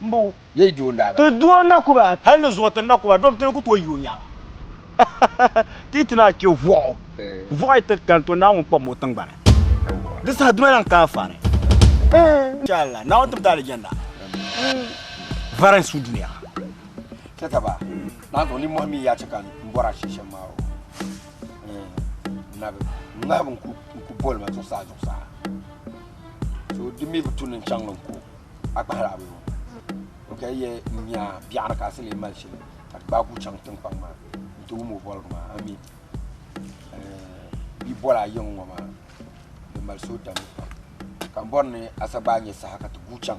Mbo ye yi di o ndaaga. Ti di o nakuba. Hali ni zuɣu ti nakuba dom ti ni ku tooi yi o nyaaba. Ti yi ti naai che vuɣu. Vuɣu yi ti kani to Naawuni kpɔbimi o tiŋgbani. Di saha duma lahi ka anfaani. Insha Allah Naawuni ti mi ti alijanna vari n su duniya. Che ka ba lahi zaŋ ninmɔhi mini yaa che ka n bɔri a shee shɛm maa o. Nabi, Nabi n ku boli ma zuɣusaa zuɣusaa. so di mi bi tu ni chaŋ n ko a kpahiri a bini o ka yɛ n nya biɛɣu ni ka a si lee mali shili ka ti gbaai ku chaŋ tinkpaŋ maa n ti wum o boligu maa a mi bia boli a yiŋ ŋɔ maa di mali suhudamli pam ka n bɔri ni a sa gbaai nyɛ saha ka ti guui chaŋ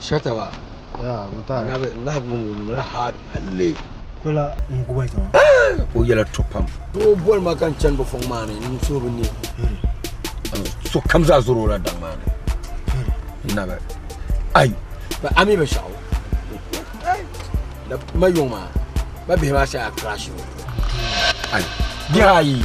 Shataba o yɛla to pam o boli ma ka n chani bi fɔŋ maa ni n so bi ne so kam zaa zoro la daŋ maa ni nabi ayi ba ami bi shɛɣu ma yɔŋ maa ba bihi maa shɛya krashi ayi bihi ayi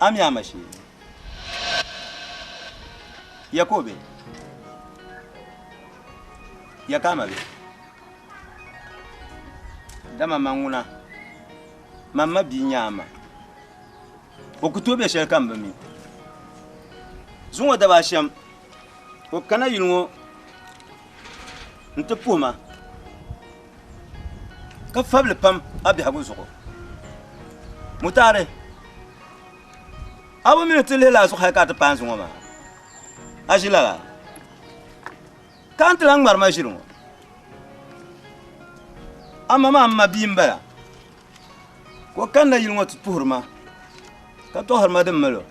Ami a ma shee. Ya ka o be? Ya ka a ma be? Dama man ŋuna. Man ma bia n-nyɛ a ma. O ku tooi be shɛli ka m bi mi. Zuŋɔ daba ashɛm ka o kana yuli ŋɔ. n-ti puhi ma ka fab li pam a biɛhigu zuɣu. Mutari, a bi mi ni ti lihila a zuɣu hal ka a ti paai n zuŋɔ maa, a ʒi lala ka n ti lan ŋmari ma ʒili ŋɔ. A ma maa m-ma bia m-bala ka o kanna yili ŋɔ ti puhiri ma ka tɔɣiri ma din mali o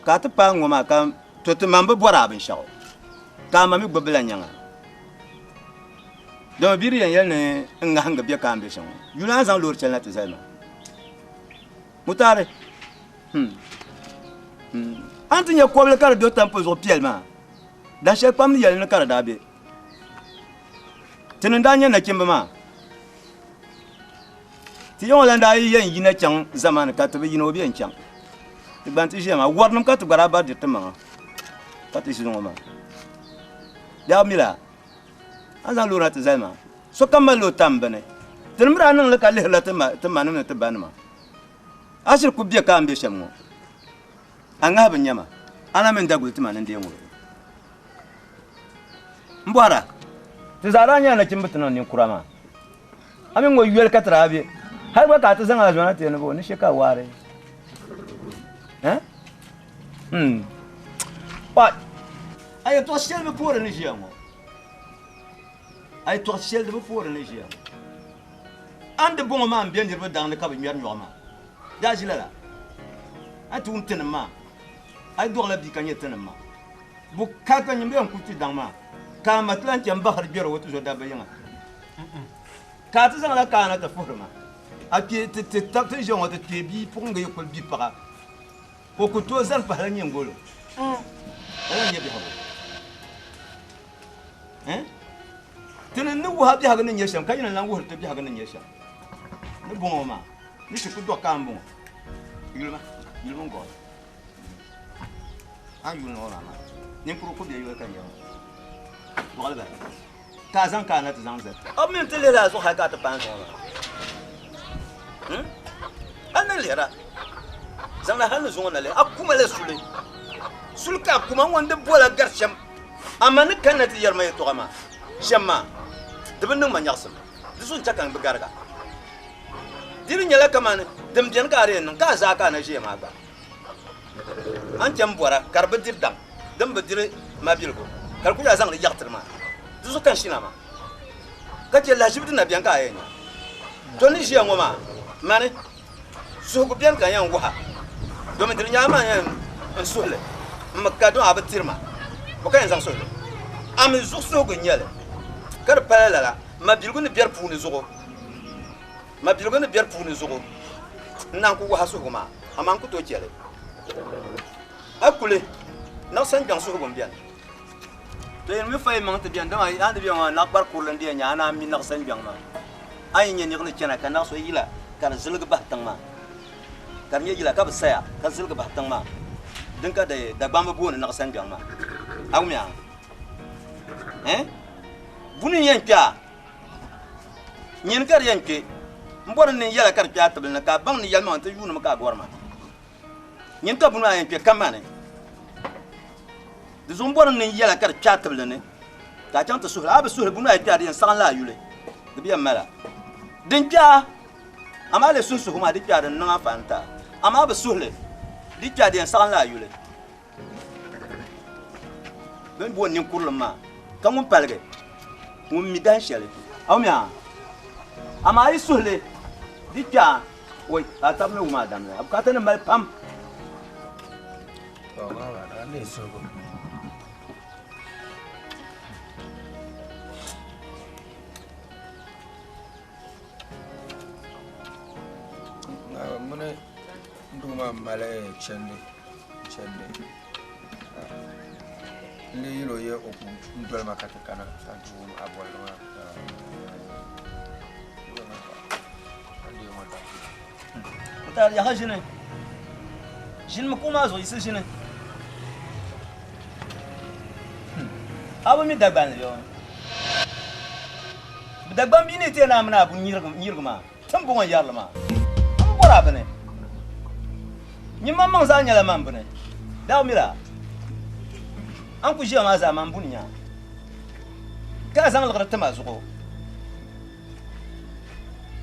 ka a ti paai n ŋɔ maa ka To ti ma m-bi bɔri a binshɛɣu, ka a ma mi gbibila nyaŋa. Dama bia di yɛn yɛli ni n ŋahingi bɛ ka a ni be shɛm ŋɔ, yuli a ni zaŋ loori chɛli na ti zali ma. Mutari, hmm, hmm, a ni ti nya kɔbili ka di do tampu zuɣu piɛli maa, dahin shɛli kpam ni yɛli ni ka di daa be. ti ni daa nyɛ nachimba maa ti yɛŋɔ lan daa yi yɛn yina chaŋ zamani ka ti bi yina o bi yɛn chaŋ ti gban ti ʒiya maa warinim ka ti gba daa bari diri ti maŋa ka ti ʒi ŋɔ maa yaa mila a zaŋ loona ti zali maa sokam mali o tam bini ti ni mi daa niŋli ka lihirila ti ma ti manim ni ti banima a shiri ku bɛ ka n bɛ shɛm ŋɔ A ŋahibu n-nyɛ ma, a na mi n-daguli ti ma ni n deei ŋubiri. M bɔhira, ti zaa daa nyɛla nachimba ti niŋ ninkura maa, a mi ŋɔ yoli ka ti daa be, hal gba ka a ti zaŋ a zɔna teei ni bɔ, ni she ka a waari? Eh? Hmm. What? A yɛtɔɣ shɛli bi poori ni ʒiya ŋɔ. A yɛtɔɣ shɛli di bi poori ni ʒiya ŋɔ. A ni di bɔŋɔ maa m-be niriba daŋ ni ka bɛ ŋmɛri nyɔɣu maa. daa ʒi lala. A yi ti wum tinim maa, a yi dɔɣila bia ka nyɛ tinim maa, bo ka ka nyimbiya n-kul kpi daŋ maa ka a ma ti lan chani bahiri gbɛr o tizo dabba yiŋa? Ka a ti zaŋla kaana ti puhiri ma, a kpee ti ti tab ti ʒe ŋɔ ti kpee bia puɣiŋga yi kul bi paɣa, o ku tooi zani pahila nyiŋgol ka lan nya biɛhigu. Ti ni ni wuhi a biɛhigu ni nyɛ shɛm ka yi ni lan wuhiri ti biɛhigu ni nyɛ shɛm ni bɔŋɔ maa. Ni ti ku dɔɣi ka m-bɔŋɔ. Yuli ma, yuli mini gɔɣili. A ni yuli niŋ o maa maa, ninkurigu ku be yoli ka n yɛli ŋɔ. Gɔɣili bala. Ka a zaŋ ka a na ti zaŋ zali. A bi mi n-ti lihiri a zuɣu hali ka a ti paai n-zaŋ o maa? Him? A ni lihir a? Zaŋda hali ni zuŋɔ na lihir a. A kuma la suli. Suli ka a kuma ŋɔ n-di bola gari shɛm. Amaa ni kanna ti yɛri ma yɛtɔɣa maa shɛm maa, di bi niŋ ma nyaɣisim. Di zuɣu n-chɛ ka n bi gariga. Dini nyɛla kamani din beni ka a di yɛn niŋ ka a zaa ka a na ʒiya maa gba a ni chani bɔra ka di bi diri daŋ din bi diri mabiligu ka di ku daa zaŋdi yaɣitiri maa di zuɣu ka n shina maa ka chɛ lahiʒibu din na beni ka a yɛn nya do ni ʒiya ŋɔ maa mani suhigu beni ka n yɛn waha domi dini nyɛla man yɛn n suhi li n mi ka dɔn a bi tiri ma bɔ ka yɛn zaŋ suhi li a mi zuɣu suhigu n nyɛli ka di pala lala mabiligu ni beri puuni zuɣu Mabiligu ni biɛri puuni zuɣu n naan ku waha suhigu maa, amaa n ku tooi chɛ li. A kuli niɣisi n gbiɛŋ suhigu m-beni. To yen mi fayi maŋ ti beni, dama a ni be ŋɔ maa, naɣikpar kurili n-di yan nya, a naan mi niɣisi n gbiɛŋ maa. A yi nya niɣi ni chana ka naɣisi o yila ka di ziligi bahi tiŋ maa, ka di nya yila ka bi saya ka ziligi bahi tiŋ maa, din ka Dagbamba bi booni niɣisi n gbiɛŋ maa. A wumia? Ɛɛn? Buni n-yen kpe a? Nyini ka di yɛn kpe, m bɔri n ni yɛla ka di kpe a tibili ni ka a baŋ ni yɛlimaŋ nti yuuni mi ka a gɔri ma. Nyini ka buni maa yɛn kpe kamani di zuɣu m bɔri n ni yɛla ka di kpe a tibili ni ka a chaŋ ti suhi li. A bi suhi li buni maa yi kpe a di yɛn saɣin la a yuli, di bi yɛn mali a din kpe a. Amaa a lee suhi suhigu maa di kpe a di ni niŋ a faani ti a. Amaa a bi suhi li di kpe a di yɛn saɣin la a yuli. Bɛn booni ninkurulim maa, ka ŋun paligi, ŋun mi dahin shɛli. Aw mi a? Amaa yi suhi li, di kpɛɣa, oi, ka a taba mi wum a dam la. A bukaatanim mali pam. Tɔ, baaba, daa n-leei suhigu. Naawuni mini. Doo maa mali chɛndi chɛndi n lee yɛl o yɛ o ku doli ma ka ti kana ka ti wum a bolli maa taali yaha ʒini ʒini mi kuɣu maa zuɣu yiɣisi ʒini a bi mi dagban li bi dagban bi ni ti yɛn naa mini a bu nyirigi maa Tiŋbɔŋɔ yɛrili maa a bi bɔri a bini nyimmaŋmaŋ zaa nyɛla man bini daa mira a ni ku ʒiya maa zaa man buni nya ka a zaŋ liɣiri tim a zuɣu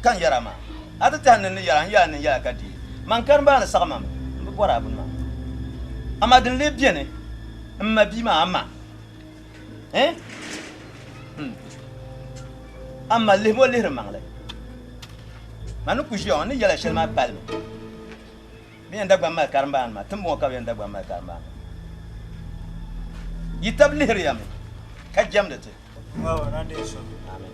ka n yɛra maa a ti tahi ni n ni yɛra n yɛla ni n yɛla ka dii man karimba a ni saɣi mam n bi bɔri a bini maa amaa din lee beni m ma bia maa a ma Eh? Hmm. Amma lihimo lihiri maŋli. Ma ni ku ʒiya ŋɔ ni yɛla shɛli maa pali mi. Bɛ yɛn dagban mali karimbaani maa, timbɔŋɔ ka bɛ yɛn dagban mali karimbaani. Yi tab lihiriya mi ka jɛmdi ti. Amen.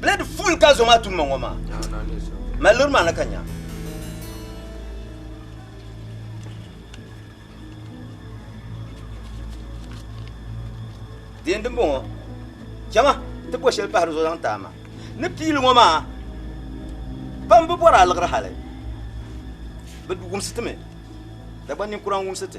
Blade full ka zo maa tun ma ŋɔ maa. Mali lori maa na ka nya. Deen din bɔŋɔ jama ti bɔ shɛli pahiri zo zaŋ taa ma ni piili ŋɔ maa pam bi bɔri aliɣiri hali bi wumsi ti mi dagban ninkura n wumsi ti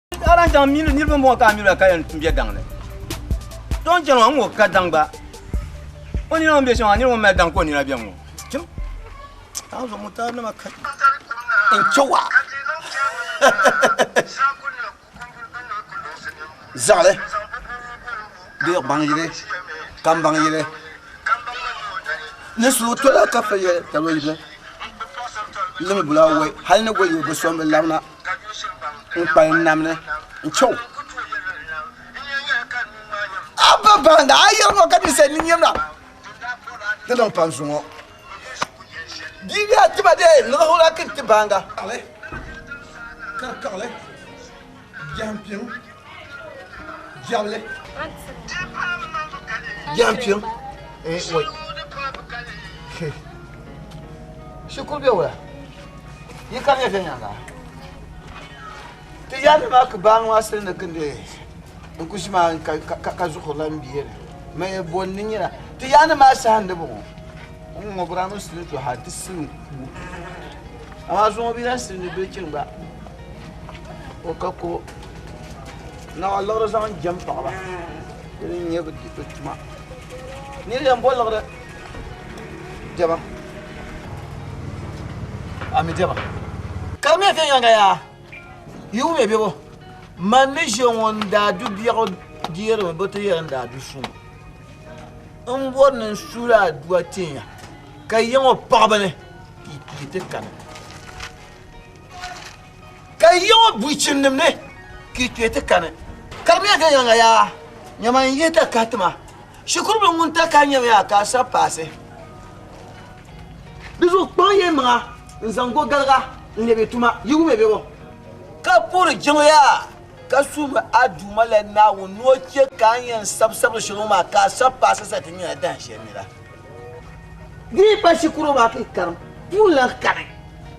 a lan chaŋ mini niriba mɔɣu ka a nyura ka yɛn bɛ daŋ ni to n chɛŋ ŋɔ ka daŋ gba o nina ŋun bɛ shɛŋa nira ŋun mali daŋ ka o nina bɛ ŋɔ chim a zuɣu mutari nima ka n chɛ wa zaɣili bɛ gbaŋ yili ka n baŋ yili ni so tola ka fɛ yɛ ka lo yili limi bula wɛ hali ni goli yɛ bi sɔn bi labina n kpalim nam ni n chɛ o. A ba baŋ daa yɛri ŋɔ ka ninsal nini yɛm la di niŋ pam zuŋɔ. Bia bɛha ti ba dee niɣi o la kini ti baaŋa. Kari kaɣili biɛhimpini. Diabli. Jam kpim. Eh, wait. Shikuru bɛ wula. Yi kam ya viɛnyɛŋa. Ti yaari maa ka baa ŋɔ asiri ni gindi n ku ʒi maa ka zuɣu lan bie ni. Mɛ bɔn ni nyina. Ti yaani maa sahan di bɔŋɔ. N ŋɔ bura mi sili to ha ti sili n ku. Amaa zuŋɔ bi lan sili ni bilichini gba. o ka ko naɣa liɣiri zaŋ jɛm paɣaba di ni nyɛ bi tuma ni yɛn bo liɣiri dɛma ami dɛma ka di mii viɛnyɛŋa yaa yuumi bɛ bo man ni ʒiɛ ŋɔ n daa du biɛɣu deerimi bi ti yɛli n daa du suŋ n bori ni n suula aduwa tinya ka yiŋɔ paɣaba ni ti kani ka yiɣi o bui chinnim ni ka i kpee ti kani Karimiya viɛnyɛliŋga yaa nyama n yihi takahi tima shikuru bila ŋun takahi nyɛmi yaa ka a sabi paasi di zuɣu kpaŋ ya maŋa n zaŋ go galiga n lɛbi tuma yi wumɛ bɛ bo ka puhiri jiŋli yaa ka suhimi a Duuma la Naawuni ni o chɛ ka a yɛn sabi sabiri shɛli ŋɔ maa ka a sabi paasi sa ti nyɛla dahinshɛli nira di yi pa shikuru maa ka i karim puuni lan kani.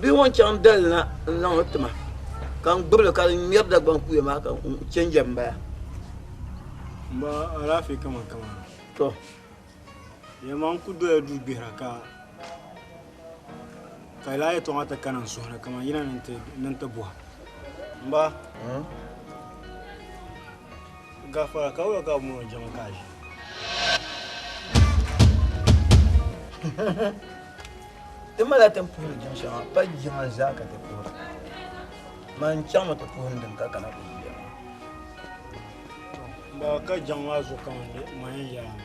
bia ŋɔ chaŋ dali na n zaŋ li tima ka n gbibili ka di ŋmɛri dagbaŋ kuya maa ka n chɛnjɛ n bala n ba alaafee kaman kaman to yɛma n ku doya duu gbihira ka ka laa yɛtɔɣa ti kana n suhu ni kaman yina ni n ti buha n ba Gafara ka wula ka bi mɔni jɛma ka a ʒi? Ti mala tin puhiri jɛm shɛŋa pa jɛma zaa ka ti puhira. Man chaŋmi ti puhiri din ka kana ti yuya maa. Ba ka jɛm maa zuɣu ka man yɛn yaai ma.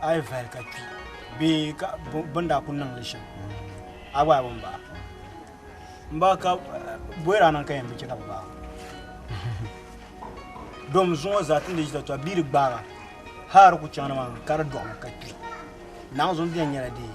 a yi vali ka kpi bee ka bin daa ku niŋli shɛm a gba bi baɣa n ba ka boyira niŋ ka yɛn bi chɛ ka bi baɣa dom zuŋɔ zaa tindi ʒita tɔa bia di gbaaga haar ku chaŋ ni maa ka di dɔɣi ka kpi naɣa zuŋ bɛn nyɛla dee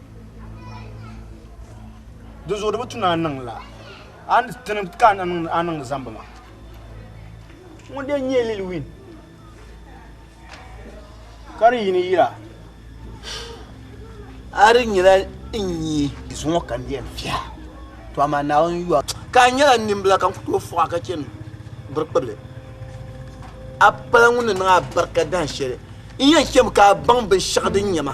di zuɣu di bi tuna niŋ la a ni tini ka a niŋ a niŋ zambi ma ŋun de nyɛ lil win ka di yini yira a di nyɛla n nyɛ zuŋɔ ka n yɛn fiha to amaa naawuni yɔa ka a nyɛla nimbila ka n ku tooi fuɣa ka chɛni biri kpibili a pala ŋun ni niŋ a barika dahin shɛli n yɛn chɛmi ka a baŋ binshɛɣu din nyɛ ma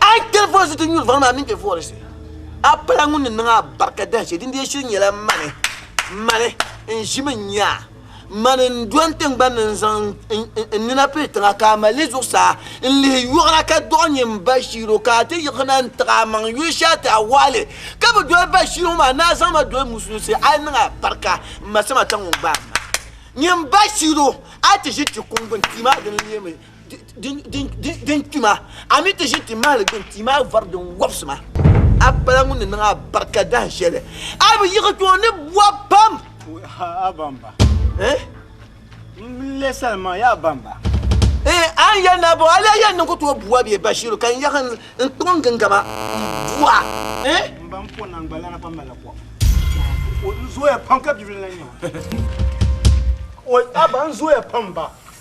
A yi kpɛri voli zuti nyuri vari maa mini bɛ volisi, a pala ŋun ni niŋ a barika dahin shɛli, dindee shili nyɛla mani, mani n-ʒimi n-nya, mani n-do n tiŋgbani ni n-zaŋ n nina piri tiŋa ka a mali li zuɣusaa n-lihi yɔɣira ka dɔɣi n-nyɛ m ba Shiilo ka a ti yiɣisina n-tiɣi a maŋ yuli shɛli ti a wɔɣi li ka bi doli ba Shiilo maa ni a zaŋ ma doli musulinsi a yi niŋ a barika m ma Samata ŋun gbaai ma nyɛ m ba Shiilo a ti ʒi ti kuŋ gbuni tia maa dini n-leemi din kpi maa, a mi ti ʒi ti mahili gbini tia maa vari din wɔbisi maa, a pala ŋun ni niŋ a barika dahin shɛli, a bi yiɣi kpe o ni bɔb pam. A bamba. Eh? N le salima yaa bamba. Eh, a ni yɛli naa bɔ, a lee yɛn niŋ ku tooi bua bee Bashiru ka n yaɣi n kpaŋ n gingama n bua. Eh? M ba n po naŋgbalana pam mali la kɔbu. O zooya pam ka bibili na nyɛ o. O a ba n zooya pam ba.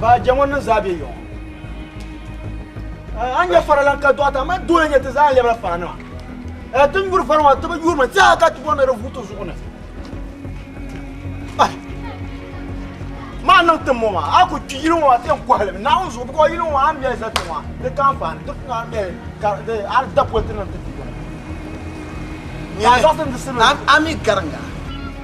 Ba je ŋun niŋ zaa be yɔŋɔ. A nyɛ faralan ka dɔɣita ma dole nyɛ ti zaa lɛbira faranima. Ɛ ti nyuri vari ŋɔ ti bi yurimi ti a ka ti bɔni di vuto zuɣu ni. Maa niŋ ti mɔ maa a ku kpi yili ŋɔ ti kɔhili mi naawuni zuɣu bukɔ yili ŋɔ a mɛli za ti ŋɔ di ka anfaani di kuna mɛli ka di a da politi niŋ ti ti yɔŋɔ. Ami garinga.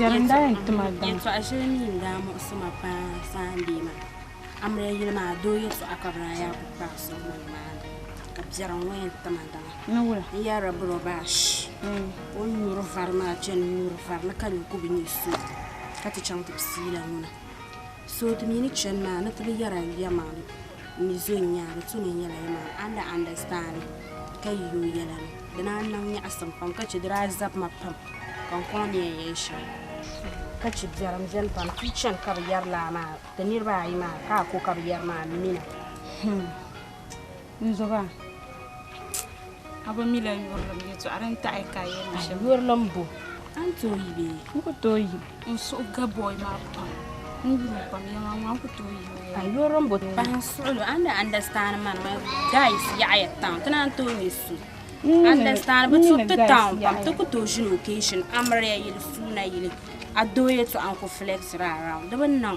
Yɛltɔɣa shɛli mi n daa muɣisi ma paa n saai n deei ma amiliya yili maa doo yɛltɔɣa ka bi daa yaai ku kpaai sɔŋ ma ni maa ni ka piɛri ŋɔ yɛn ti ma dama n yɛrila buro baashi ka o ni nyuri vari maa chani n nyuri vari ni ka nya ku bi nyɛ sɔ ka ti chaŋ ti pisiyi la ŋuna. So di mi ni chani maa ni ti bi yɛra yɛman n mi zo n nyaanga so mi nyɛla yɛman a ni daa andasitandi ka yi o yɛla ni di daa niŋ nyaɣisim pam ka chɛ di daa zabi ma pam ka n kɔŋ ni yɛn yɛli shɛm ka chɛ biɛrim beni pam ti yi chani ka bi yɛri laa maa ti niriba ayi maa ka a ko ka bi yɛri maa m mina. N zuba a bi mi la yurilim yɛtɔɣa din taɣi ka a yɛli shɛm. Yurilim bo a ni tooi yi bee? N ku tooi yi. N suhu ga bɔy maa pam. N yulim pam yɛma ŋɔ a ku tooi yi mi. A yurilim bo pahi n suɣilo a ni daa andasitandi ma ni ma gais yaɣiya tiŋa ti naan tooi nya so. Andasitandi bi tu ti taun pam ti ku tooi ʒini okashin amiliya yili suuna yili a doo yɛtɔɣa n ku filɛgisiri a raun di bi niŋ.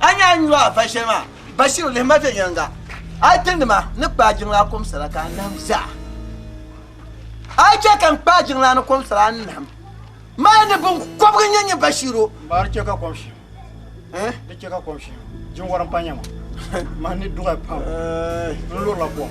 A ni a nyɔɣu va shɛli maa, Bashiru lihi ma viɛnyɛliŋga. A tinima ni kpaai jiŋlaa kɔmsira ka a nahim zaa. A chɛ ka n kpaai jiŋlaa ni kɔmsira n nahim. Mali ni biŋkɔbigu n-nyɛ nyɛ Bashiru. Ba di chɛ ka kom shihim. Eh? Di chɛ ka kom shihim. Jinwɔri m-pa nyɛ ma. Mani ni duɣi pam n-lurila kom.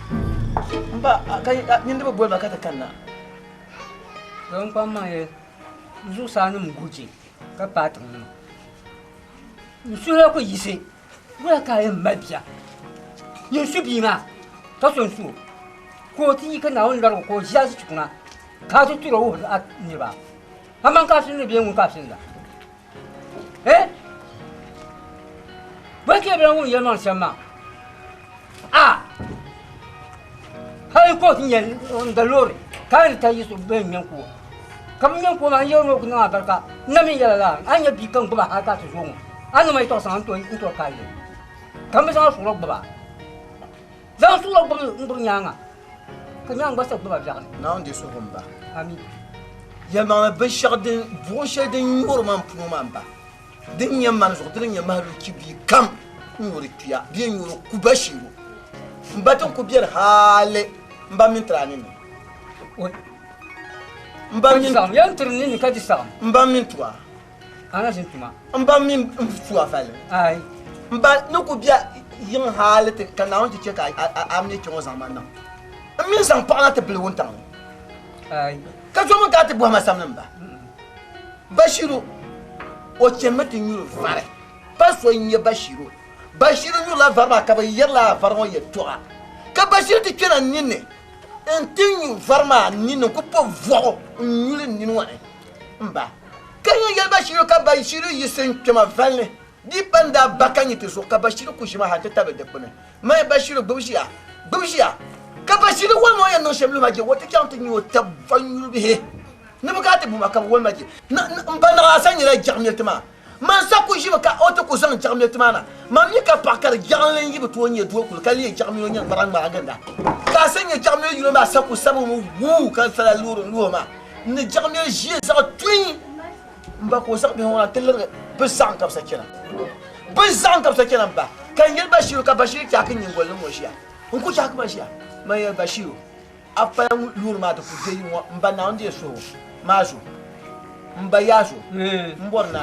Mba, a ka nyin di bi boli ma ka ti kanna. Doo n kpam maŋ ya n zuɣusaa nim guji ka paai tiŋ nima. N suhila ku yiɣisi wala ka a yɛn mali bia ni n su bia maa ka so n su o ka o ti yi ka Naawuni lɔrigu ka o ʒi a zuchukuna ka a ti turi o wuhiri a niriba. Aman ka a suhindi bee ŋun ka a suhindi a? eh bɔn kɛ bɛla ŋun yɛli maa shɛm maa a hali kot n yɛn n da loori ka a ni ta yi so bɛn ŋmɛn kuwa ka bi ŋmɛn kuwa maa n yɛri ŋɔ ku niŋ a barika n na min yɛla la a nyɛ bia ka n gbuba hali ka ti zuɣu ŋɔ a ni ma yi tɔɣu saŋa n tɔri ka a yɛli ka n bi zaŋ a suɣuri gbuba Zaŋ suɣilo gbubi n gbubi nyaaŋa, ka nyaaŋ gba sa gbubi a biɛɣuni. Naawuni di suhu m ba. Amin. Yɛlimaŋli binshɛɣu din, buɣim shɛli din nyuri ma m puno maa m ba. Din nyɛ mani zuɣu, dini n-nyɛ mahilichi bia kam n nyuri kpia, bee n nyuri ku bashiibu. M ba din ku beni haali m ba mini tiri a ninni. O, m ba mini. Ka di saɣim, yɛn tiri ninni ka di saɣim. M ba mini tu a. Ana ʒe tuma. M ba mini m pua vali. Aai. M ba ni ku bɛ yiŋ hali ti ka Naawuni ti chɛ ka a mi kpɛŋɔ zaŋ ma niŋ m mini zaŋ paɣa na ti bili wuntaŋ ni. Aai. Ka zo min ka a ti bɔhi ma sabini m ba. Bashiru, O chanimi ti nyuri vari. Pa so n-nyɛ Bashiru. Bashiru nyurila vari maa ka bɛ yɛri lala vari ŋɔ yɛltɔɣa. Ka Bashiru ti kpɛna n ninni n-ti nyu vari maa ninni n-ku po vuɣu n-nyuli n nini ŋɔ ni. M ba, ka n yin yɛli Bashiru ka Bashiru yiɣisi n-kpe ma valini. Di pa n-daa ba ka nyi ti zuɣu ka Bashiru ku ʒi ma hal ti tabili dikpuni. Maya Bashiru gbib ʒiya! Gbib ʒiya! Ka Bashiru woli ma o yɛn niŋ shɛm lu ma je o ti chaŋ ti nyu o tab vanyuribihi ni bɛ kana ti bu ma ka bɛ woli ma je. N ba Naɣilasa nyɛla jɛɣimiya ti ma. Man sa ku ʒibi ka o ti ku zaŋ jaɣimiyo ti ma na. Man mi ka paɣa ka di jaɣinli n-yi bi tooi nyɛ doo kuli ka leei jaɣimiyo nyɛ ŋariŋ maa ginda. Ka a sa nyɛ jaɣimiyo yino maa sa ku sabi mi wuu ka sala luɣiri n luhi maa n ni jaɣimiyo ʒiɛ zaɣ tuin m ba ka o zaŋ bihi ŋɔ na ti lirigi bi zaɣim ka bi sa chana. Bi zaɣim ka bi sa chana m ba ka n yeli Bashiru ka Bashiru chaaki n nyingoli ni ŋɔ ʒiya. N ku chaaki ma ʒiya man yeli Bashiru. A pala ŋun yuuri maa ti ku je yi ŋɔ, m ba Naawuni di so maa zuɣu, m ba yaa zuɣu, m bɔri ni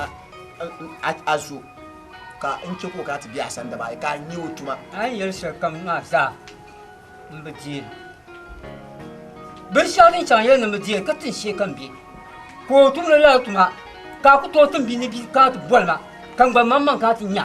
a zo ka n chɛ ka o kana ti be a sani daba ayi ka a nya o tuma. A ni yɛli shɛlikam maa zaa m bi deeri. Binshɛɣu din chaŋ yɛli ni m bi deeri ka tin shee ka m be, ka o tumdi lala tuma, ka a ku tooi tim bia ni bia kana ti boli ma, ka n gba mmaŋmaŋ kana ti nya.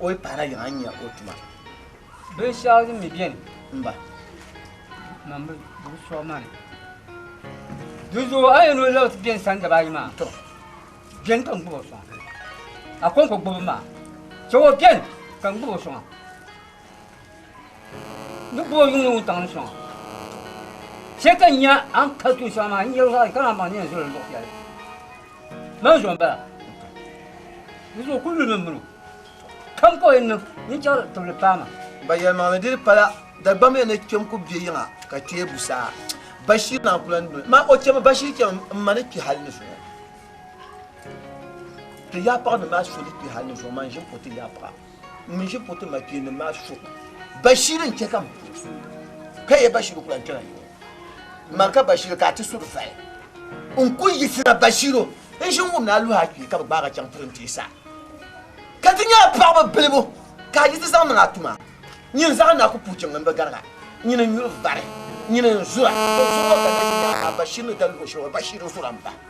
o yi pahila yiŋa n-nya o tuma. Binshɛɣu din mi beni. M-ba. Mam bi gbubi sɔɣ ma ni. Dinzuɣu a yɛn ni o labi ti beni sani daba ayi maa, beni ka n gbubi o sɔŋ. A kɔŋko gbubi m ma, chɛ o beni ka n gbubi o sɔŋ. N ni gbubi o yuŋdi wuntaŋ ni sɔŋ. Chɛ ka n nya a ni pali tuun shɛŋa maa, n yɛli o zaɣ yi ka naan baŋ ni yɛn zol o luɣ shɛli. Maa zuɣu bala. Di zuɣu ku lumi mini o. Kam ka o yɛn niŋ ninchɛri tibili paama. Ba yɛlimaŋli diri pala Dagbamya ni kpɛm ku be yiŋa ka chɛ busaa. Bashir naa ku lan doli ma. O chɛmi Bashir chɛmi m-ma ni kpi hali ni zuŋɔ. Ti yaɣipaɣ ni maa so di kpi hali ni zuŋɔ, man ʒini o ti yaɣipaɣ. N mi ʒi puti makpeennim maa so Bashir n-chɛ ka m puhi so ka yɛ Bashir ku lan kpɛla yuŋ ma ka Bashir ka a ti suri fai. N ku yiɣisira Bashir o n ʒi n-wum ni a luhi a kpee ka bi gbaag a chaŋ puri n-ti sa ka ti nya a paɣiba bilibu ka a yi ti zaŋ niŋ a tuma nyin zaɣ na ku puhi chaŋ n bi garig a nyin n-nyuri vari nyin n-zura o zuɣu ŋɔ ka na ʒi ni a Bashir ni da luhi o shɛl ŋɔ Bashir n-zura m-bahi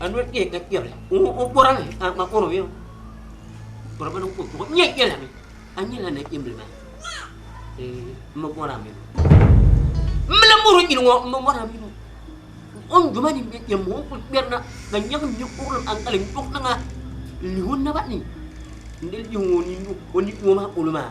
a noli kpɛhi ka kpɛbila o bɔra mi a ma kɔrɔ mi o bɔra mi ko bɔɣu nyɛ yɛla mi a nyɛla na kpɛmbili maa ee n ma bɔra mi n mi la mɔri nyini ŋɔ n ma bɔra mi o n duma ni bɛ kpɛm ŋɔ n kuli kpɛrina ka nyɛgi mi kuɣulim an kali n duɣi niŋa n lihi o naba ni n di lihi o ni o ni o maa polo maa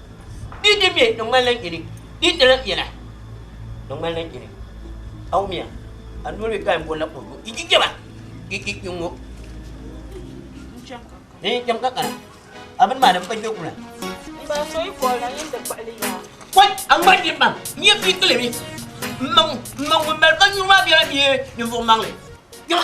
Bia din ŋmɛ di ŋmanila nyini, bia di lahi ŋmɛla di ŋmanila nyini. A wumiya, a noli mi paai m-bɔri la kurugu, i yi jɛba, i i i ŋɔ. Di yi cham ka kana, a bini maa di m-pa jɛgu la. N ba so yi bɔri la yɛn ti kpuɣili ya. Kɔy a ŋmari din baŋ, n yɛn pii kili mi. M ma ŋun mali kanyuri maa bela bee ninvuɣ maŋli? Jɛma!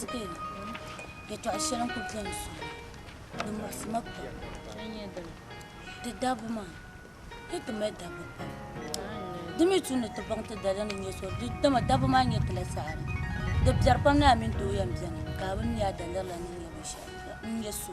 Spain, yɛtɔɣ shɛli n-kul beni sɔŋ maa, di muɣisi ma pam. Ti dabba maa, hii ti mali dabba pam. Di mi tu ni ti baŋ ti daliya ni n-nyɛ so, dama dabba maa nyɛ ti la saɣiri. Di biɛri pam ni a mini doo yɛn beni ka a bi nya a daliri la ni n-nyɛ binshɛɣu, n-nyɛ so.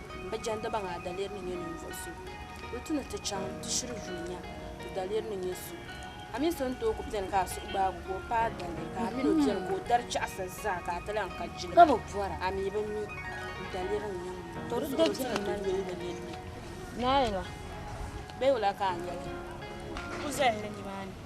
m bi jɛndi ba maa daliri ni nyɛ ninvuɣ so. Bɛ tu ni ti chaŋ ti shiri yuui nya ti daliri ni nyɛ so. A mini so n-tooi ku beni ka a suhu gbaag o ka o paai daliri, ka a min o beni ka o dari chaɣisa zaa ka a ti lan ka jilima, a mi bi mi n daliri ni nyɛ ŋun bɔŋɔ. Di zuɣu bɛ ti ni yooi ni nini. Naayila! Bɛ yula ka a nyɛli? Ku zahiri nimaani.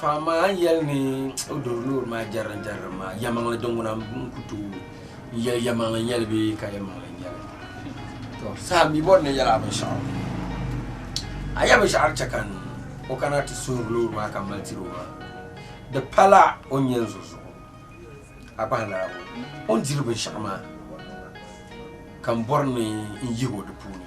Fahimmaa yɛli ni o doo loori maa jɛrili jɛrili maa yɛmaŋli din ŋuna n ku tooi n yɛli yɛmaŋli nyɛli bee ka yɛmaŋli nyɛli to saha mi bɔri ni yɛli a binshɛɣu a yɛ binshɛɣu chɛ ka n o kana ti suhuri loori maa ka mali tiri o maa di pala o nyɛ n zo zuɣu a kpahi naabo o ni diri binshɛɣu maa ka n bɔri ni n yihi o di puuni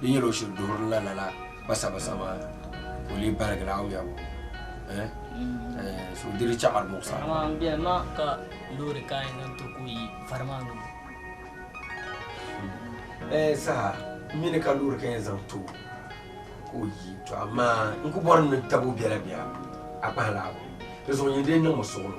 Di nyɛla o shiri duhirila lala basabasa maa ka o lee barigi la awuya ŋɔ. Eh? Eh, so di di chaɣiri muɣisa. Amaa n biɛli ma ka loori ka a yɛn zaŋ ti ku yi vari maa ni bɔ? Eh, saha mini ka loori ka yɛn zaŋ ti o ka o yi, tɔ amaa n ku bɔri ni tab o biɛla bia, a kpahi laɣibu. Dinzuɣu nyin dee niŋ ma suɣulo.